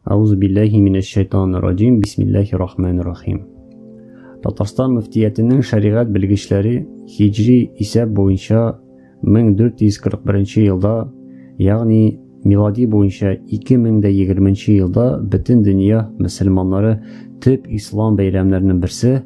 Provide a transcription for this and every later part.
Аузу биллахи минәш шайтанир раҗим. Бисмиллахир рахманир рахим. Татарстан мөфтиятенең шәригать белгечләре хиҗри исәп буенча 1441 елда, ягъни милади буенча 2020 елда бөтен дөнья мөселманнары төп ислам бәйрәмнәренең берсе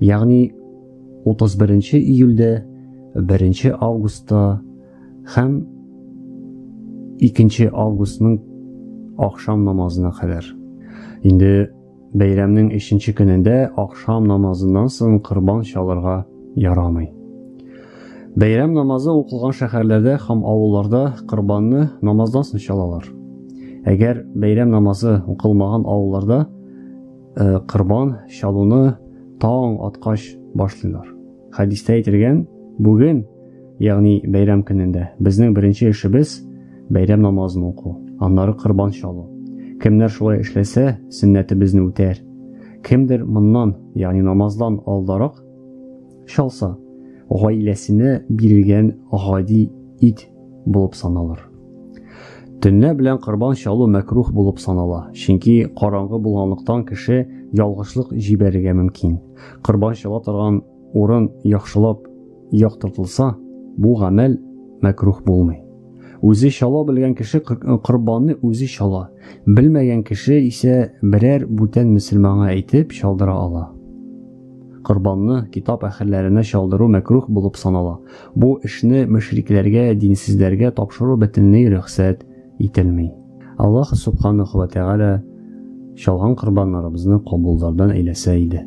Ягъни 31 июльдә, 1 августта һәм 2 августның ахшам намазына кадәр. Инде бәйрәмнең 3 көнендә ахшам намазыннан соң корбан чалырга ярамый. Бәйрәм намазы укылган шәһәрләрдә һәм авылларда корбанны намаздан соң чалалар. Әгәр бәйрәм намазы укылмаган авылларда э, корбан чалуны таң аткач башлыйлар хәдистә әйтелгән бүген ягъни бәйрәм көнендә безнең беренче эшебез бәйрәм намазын уку аннары корбан чалу кемнәр шулай эшләсә сөннәтебезне үтәр кемдер моннан ягъни намаздан алдарак Чалса, гаиләсенә бирелгән гади ит булып саналыр. Төнлә белән корбан чалу мәкрух булып санала, чөнки караңгы булганлыктан кеше ялгышлык җибәрергә мөмкин. Корбан чала торган урын яхшылап яктыртылса, бу гамәл мәкрух булмый. Үзе чала белгән кеше корбанны үзе чала, белмәгән кеше исә берәр бүтән мөселманга әйтеп чалдыра ала. Корбанны китап әһелләренә чалдыру мәкруһ булып санала. Бу эшне мөшрикләргә, динсезләргә тапшыру бөтенләй рөхсәт ителми. Аллаһ субханаху ва тәгалә чалган корбаннарыбызны кабуллардан әйләсә иде.